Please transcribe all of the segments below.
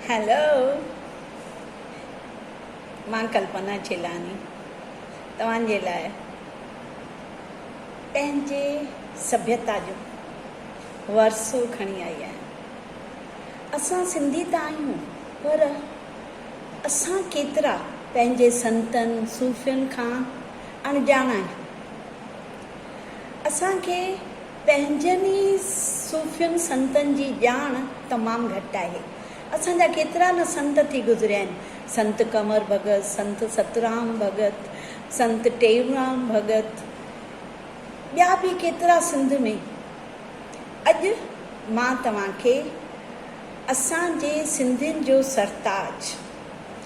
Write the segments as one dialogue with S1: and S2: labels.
S1: Hello مان ڪلپنا چيلاني توهان جي لاء پنهنجي سڀيتا جو ورثو کڻي آئي آهيان اسان سنڌي ته آهيون پر اسان ڪيترا پنهنجي سنتن صوفين کان اڻڄاڻ آهيون اسان کي پنهنجن ئي صوفين سنتن جي ڄاڻ تمام گهٽ آهي. اسان جا ڪيترا نه سنت ٿي گذريا آهن. سنت ڪنور ڀڳت، سنت سترام ڀڳت، سنت ٽيئونرام ڀڳت، ٻيا به ڪيترا سنڌ ۾. اڄ مان توهان کي اسان جي سنڌين جو سرتاج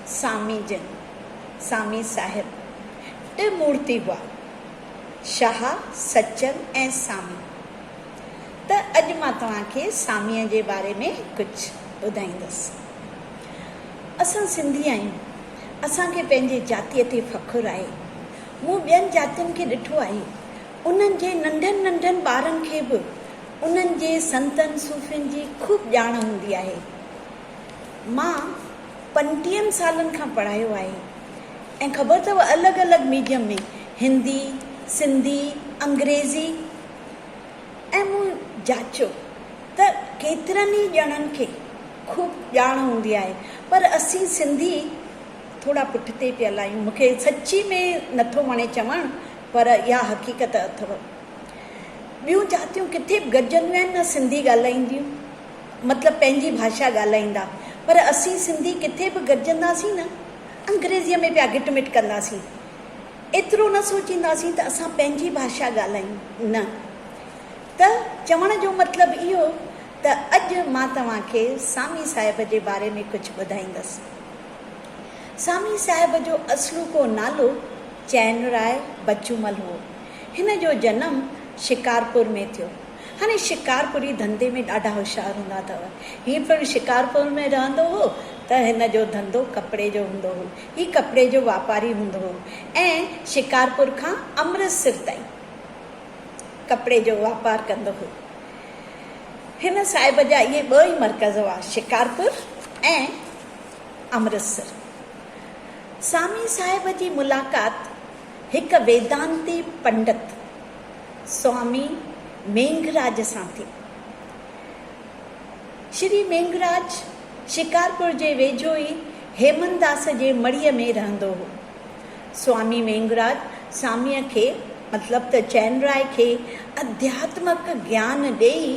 S1: سامي جن، سامي صاحب، ٽه مورتي هئا. شاهه سچل ۽ سامي ته اڄ مان توهان کي ساميء جي باري ۾ ڪجهه ٻڌائيندس. اسان سنڌي آهيون، اسان کي پنهنجي جاتيء تي فخر آهي. مون ٻين جاتين کي ڏٺو آهي، انهن جي ننڍن ننڍن ٻارن کي به انهن جي سنتن صوفين جي خوب ڄاڻ هوندي آهي. مان پنٽيهن سالن کان پڙهايو آهي ۽ خبر اٿئو الڳ الڳ ميڊيم ۾ هندي، سنڌي، انگريزي ۽ مون جاچيو ته ڪيترن ئي ڄڻن کي خوب ڄاڻ هوندي آهي پر اسين سنڌي ٿورا پٺتي پيل آهيون مون کي سچي ۾ نٿو وڻي چوڻ پر اها حقيقت اٿئو ٻيون جاتيون ڪٿي به گڏجنديون آهن نه سنڌي ڳالهائينديون. مطلب پنهنجي ڀاشا ڳالهائيندا پر اسين سنڌي ڪٿي به گڏجنداسين نه انگريزيء ۾ پيا گٽ مٽ ڪنداسين ايترو نه سوچينداسين ته اسان پنهنجي ڀاشا ڳالهايون نه ته چوڻ جو مطلب اهو ته اڄ مان توهان کي سامي صاحب جي باري ۾ ڪجهه ٻڌائيندس سامي صاحب جو اصلوڪو نالو چئن راء بچومل هو هن جو جنم شڪارپور ۾ ٿيو. هاڻي شڪارپوري ڌنڌي ۾ ڏاڍا هوشيار هوندا اٿئو. هي پڻ شڪارپور ۾ رهندو هو ته هن جو ڌنڌو ڪپڙي جو هوندو هو. هي ڪپڙي جو واپاري هوندو هو ۽ شڪارپور کان امرتسر تائين ڪپڙي جو واپار ڪندو هو. هن صاحب جا اهي ٻه ئي مرڪز هئا شڪارپور ۽ امرتسر. سامي صاحب جي ملاقات هڪ ويدانتي پنڊت، سوامي مينگهراج سان ٿي. شري مينگهراج شڪارپور جي ويجهو ئي هيمنداس جي مڙهيء ۾ رهندو هو. سوامي مينگهراج ساميء کي مطلب ته چين راء کي اڌياتمڪ گيان ڏيئي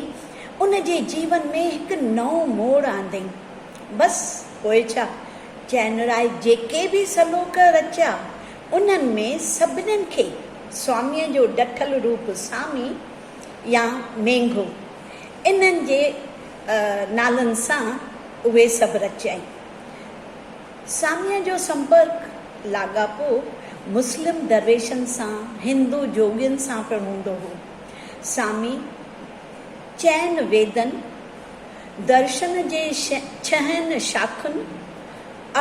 S1: ان جي جيون ۾ هڪ نئون موڙ آندئين. بس پوء ڇا چين راء جيڪي به سلوڪ رچيا انهن ۾ سڀنين کي سواميء جو ڊٺل روپ سامي يا مينگهو انهن جي نالن سان اهي سڀ رچيائين. ساميء جو سمپرڪ، لاڳاپو، مسلم درويشن سان، هندو جوڳين سان پڻ هوندو هو. سامي چئن ويدن، درشن جي ڇهن شاخن،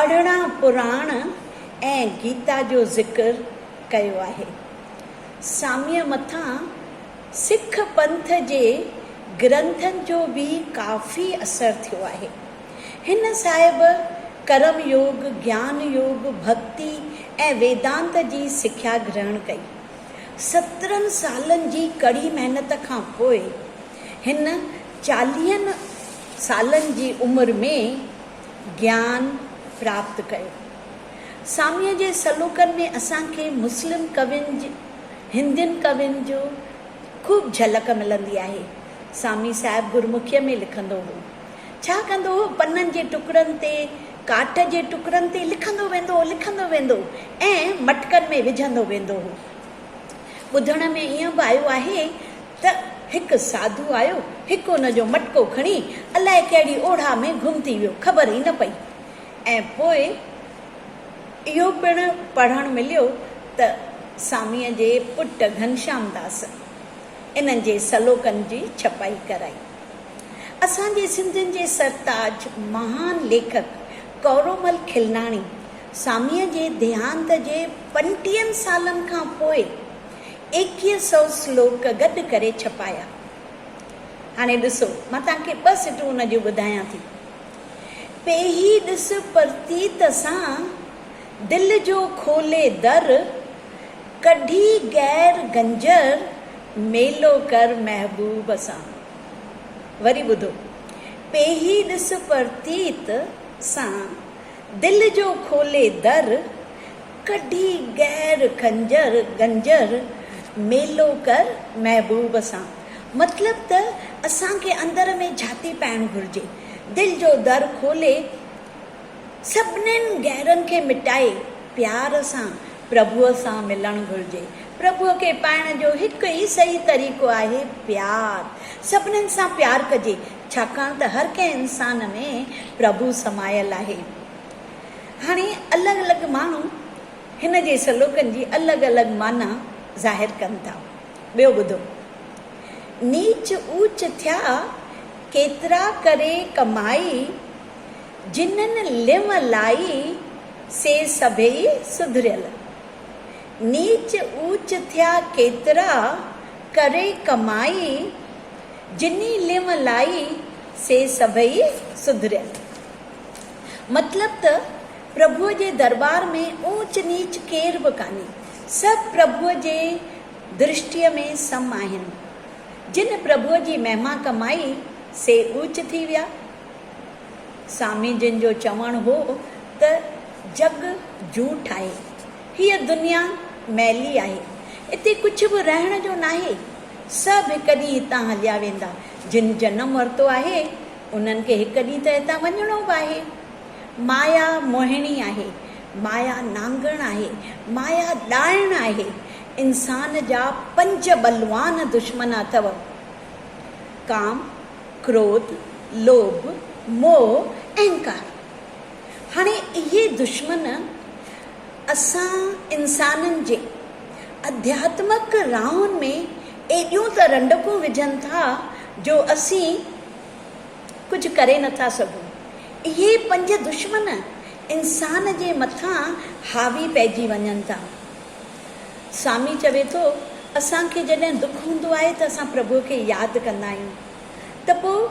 S1: ارڙهن پراڻ ۽ گيتا جو ذڪر ڪيو آهي. ساميء مٿان سک پنٿ جي گرنٿن جو به ڪافي اثر ٿيو آهي. هن صاحب ڪرم يوگ، گيان يوگ، ڀڳتي ۽ ويدانت جي سکيا گرهڻ ڪئي. سترهن سالن جي ڪڙي محنت کان پوء هن چاليهن سالن جي عمر ۾، گيان پراپت ڪيو. ساميء جي سلوڪن ۾ اسان کي مسلم ڪوين جي هندين ڪوين جو خوب جهلڪ ملندي آهي. سامي صاحب گرمکيء ۾ لکندو هو. ڇا ڪندو هو، پنن جي ٽڪڙن تي، ڪاٺ جي ٽڪڙن تي لکندو ويندو هو، لکندو ويندو ۽ مٽڪن ۾ وجهندو ويندو هو. ٻڌڻ ۾ ائين به آيو آهي ته. ته هڪ ساڌو آيو، هڪ ان جو مٽڪو کڻي الاء ڪهڙي اوڙاهه ۾ گم ٿي ويو، خبر ئي نه پئي ۽ پوء اهو پڻ پڙهڻ مليو ته ساميء جي پٽ گهنشام داس انهن جي سلوڪن جي ڇپائي ڪرائي. اسان جي سنڌين جي سرتاج مهان ليکڪ ڪئورومل کلناڻي ساميء جي ديهانت جي پنٽيهن سالن کان پوء ايڪيهه سئو سلوڪ گڏ ڪري ڇپايا. هاڻي ڏسو، مان توهان کي ٻه سٽون ان جون ٻڌايان ٿي. پيهي ڏس پرتيت سان، دل جو کولي در، ڪڍي غير گنجر، ميلو ڪر محبوب سان. وري ٻڌو، پيهي ڏس پرتيت سان، دل جو کولي در، ڪڍي غير کنجر گنجر، ميلو ڪر محبوب سان. مطلب ته اسان کي اندر ۾ جھاتي پائڻ گھرجي، دل جو در کولي سڀنين غيرن کي مٽائي پيار سان پرڀوء سان ملڻ گھرجي. پرڀوء کي پائڻ جو هڪ ئي صحيح طريقو آهي پيار. سڀنين سان پيار ڪجي، ڇاڪاڻ ته هر ڪنهن انسان ۾ پرڀو سمايل آهي. هاڻي الڳ الڳ ماڻهو هن جي سلوڪن جي الڳ الڳ معنيٰ ظاهر ڪن ٿا. ٻيو ٻڌو. نيچ اوچ ٿيا، ڪيترا ڪري ڪمائي، جنھن لنء لائي، سي سڀيئي سڌريل. نيچ اوچ ٿيا ڪيترا، ڪري ڪمائي، جنھن لنء لائي، سي سڀيئي سڌريل. مطلب ته پرڀوء جي درٻار ۾ اوچ نيچ ڪير به ڪانهي، سڀ پرڀوء جي درشٽيء ۾ سم آهن. جن پرڀوء جي مهما ڪمائي، سي اوچ ٿي ويا. سامي جن جو چوڻ هو ته جڳ جوٺ آهي. هيء دنيا مئلي آهي. اتي ڪجهه به رهڻ جو ناهي. سڀ هڪ ڏينهن هتان هليا ويندا. جن جنم ورتو آهي، انهن کي هڪ ڏينهن ته هتان وڃڻو به آهي. مايا موهڻي آهي، مايا نانگڻ آهي، مايا ڏائڻ آهي. انسان جا پنج بلوان دشمن اٿو، ڪام، ڪروڌ، لوڀ، موهه، اهنڪار. هاڻي اهي دشمن اسان انسانن جي اڌياتمڪ راهن ۾ ايڏيون ته رنڊڪون وجهن ٿا جو اسين ڪجهه ڪري نٿا سگهون. اهي پنج دشمن انسان جي مٿان حاوي پئجي وڃن ٿا. سامي چوي ٿو، اسان کي جڏهن دک هوندو آهي ته اسان پرڀوء کي ياد ڪندا آهيون ته پوء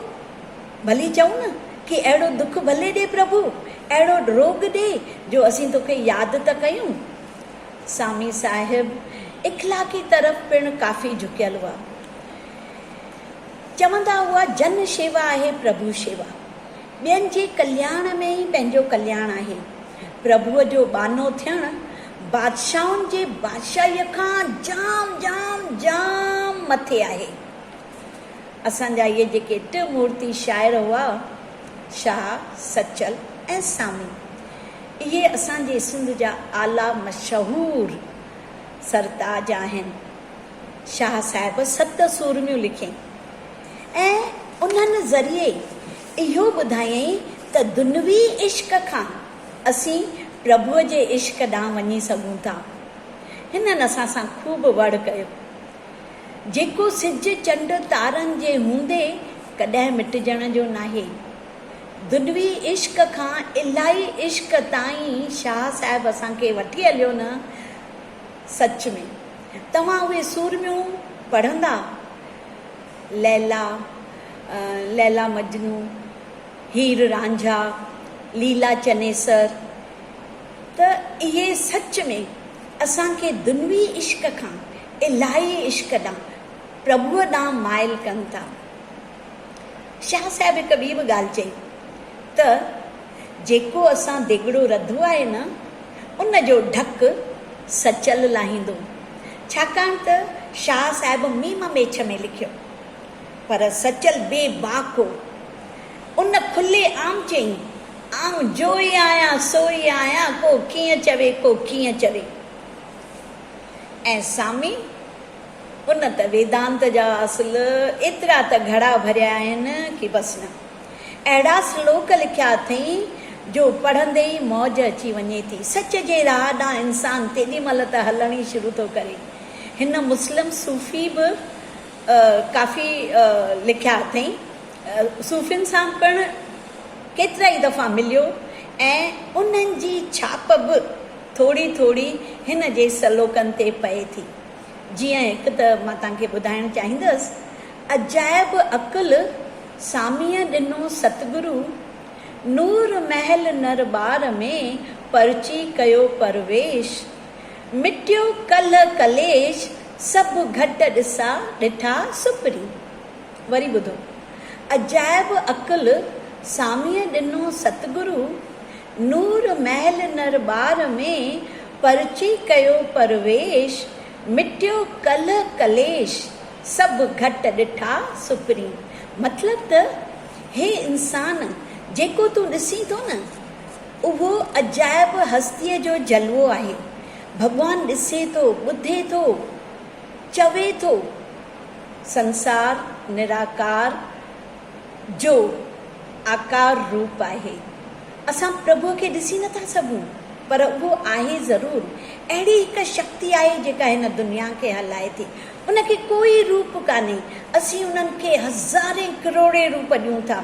S1: ڀلي چئون نه ڪي اهڙو دک ڀلي ڏي پرڀو، اهڙو روڳ ڏي جو اسين توکي ياد ته ڪيون. سامي صاحب اخلاقي طرف پڻ ڪافي جهڪيل هئا. چوندا هئا جن شيوا آهي پرڀو شيوا. ٻين جي ڪلياڻ ۾ ئي پنهنجو ڪلياڻ آهي. پرڀوء جو ٻانهو ٿيڻ بادشاهن جي بادشاهيء کان جام جام جام مٿي آهي. اسان جا اهي جيڪي ٽه مورتي شاعر هئا شاهه، سچل ۽ سامي اهي اسان جي سنڌ جا اعليٰ مشهور سرتاج آهن. شاهه صاحب ست سورميون لکيائين ۽ انهن ذريعي اهو ٻڌايائين ته دنوي عشق کان اسين پرڀوء جي عشق ڏانهن وڃي سگهون ٿا. هنن اسان سان خوب وڙهه ڪيو، جيڪو سج چنڊ تارن جي هوندي ڪڏهن مٽجڻ جو ناهي. دنوي عشق کان الاهي عشق تائين شاهه صاحب اسان کي وٺي هليو نه سچ ۾ توهان اهي سورميون پڙهندا؟ ليلا، ليلا مجنو، هير رانجها، ليلا چنيسر ته اهي سچ ۾ اسان کي دنوي عشق کان الاهي عشق ڏانهن، پرڀوء ڏانهن مائل ڪن ٿا. شاهه صاحب هڪ ٻي به ڳالهه چئي ته جيڪو اسان ديڳڙو رڌو آهي نه ان جو ڍڪ سچل لاهيندو ڇاڪاڻ ته شاهه صاحب ميم ميڇ ۾ لکيو پر سچل بي باڪ هو ان کلي عام چيائين آئون جوئي آهيان سوئي آهيان ڪو ڪيئن چوي ڪو ڪيئن چوي ۽ سامي ان ته ويدانت جا اصل ايترا ته گهڙا ڀريا آهن ڪي بس نه. اهڙا سلوڪ لکيا اٿئين جو پڙهندي ئي موج اچي وڃي ٿي. سچ جي راهه ڏانهن انسان تيڏي مهل ته هلڻ ئي شروع ٿو ڪري. هن مسلم صوفي به ڪافي لکيا اٿئين. صوفين سان پڻ ڪيترائي دفعا مليو ۽ انهن جي ڇاپ به ٿوري ٿوري هن جي سلوڪن تي پئي ٿي. جيئن هڪ ته مان توهان کي ٻڌائڻ چاهيندس، عجائب عقل ساميء ڏنو ستگرو، نور محل نر ٻار ۾ پرچي ڪيو پرويش، مٽيو ڪلهه ڪليش سڀ گهٽ ڏسا ڏٺا سپري. وري ٻڌو، عجائب عقل ساميء ڏنو ستگرو، نور محل نر ٻار ۾ پرچي ڪيو پرويش، مٽيو ڪلهه ڪليش، سڀ گهٽ ڏٺا سپري. مطلب ته هي انسان جيڪو تون ڏسين ٿو نه اهو عجائب هستيء جو جلوو آهي. ڀڳوان ڏسي ٿو، ٻڌي ٿو، چوي ٿو. سنسار نراڪار. جو آڪار روپ آهي. اسان پرڀوء کي ڏسي نه ٿا سگهون، پر اهو آهي ضرور. اهڙي هڪ شڪتي آهي جيڪا هن دنيا کي هلائي ٿي. ان کي ڪوئي روپ ڪانهي. اسين انهن کي هزارين ڪروڙين روپ ڏيون ٿا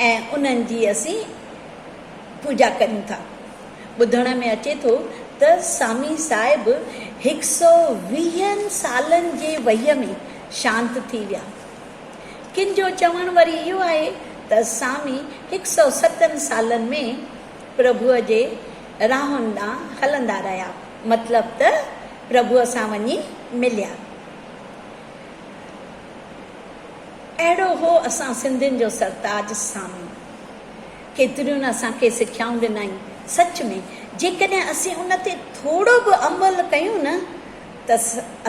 S1: ۽ انهن جي اسين پوڄا ڪريون ٿا. ٻڌڻ ۾ اچي ٿو ته سامي صاحب هڪ سؤ ويهن سالن جي وهيء ۾ شانت ٿي ويا. ڪن جو چوڻ وري اهو آهي ته سامي هڪ سؤ ستن سالن ۾ پرڀوء جي راهن ڏانهن هلندا رهيا، مطلب ته پرڀوء سان وڃي مليا. اهڙو هو اسان سنڌين جو سرتاج سامي. ڪيتريون نه اسان کي سکيائون ڏنائين. سچ ۾، جيڪڏهن اسين ان تي ٿورو به عمل ڪيون نه ته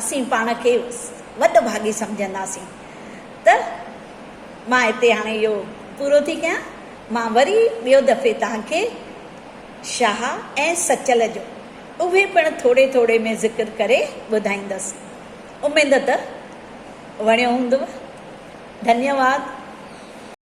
S1: اسين پاڻ کي وڏ ڀاڳي سمجهنداسين ته مان هتي هاڻي اهو پورو ٿي ڪيان مان وري ٻيو دفعي توهان کي شاهه ۽ سچل جو اهي پڻ ٿوري ٿوري ۾ ذڪر ڪري ٻڌائيندس اميد ته وڻيو هوندو ڌنيواد.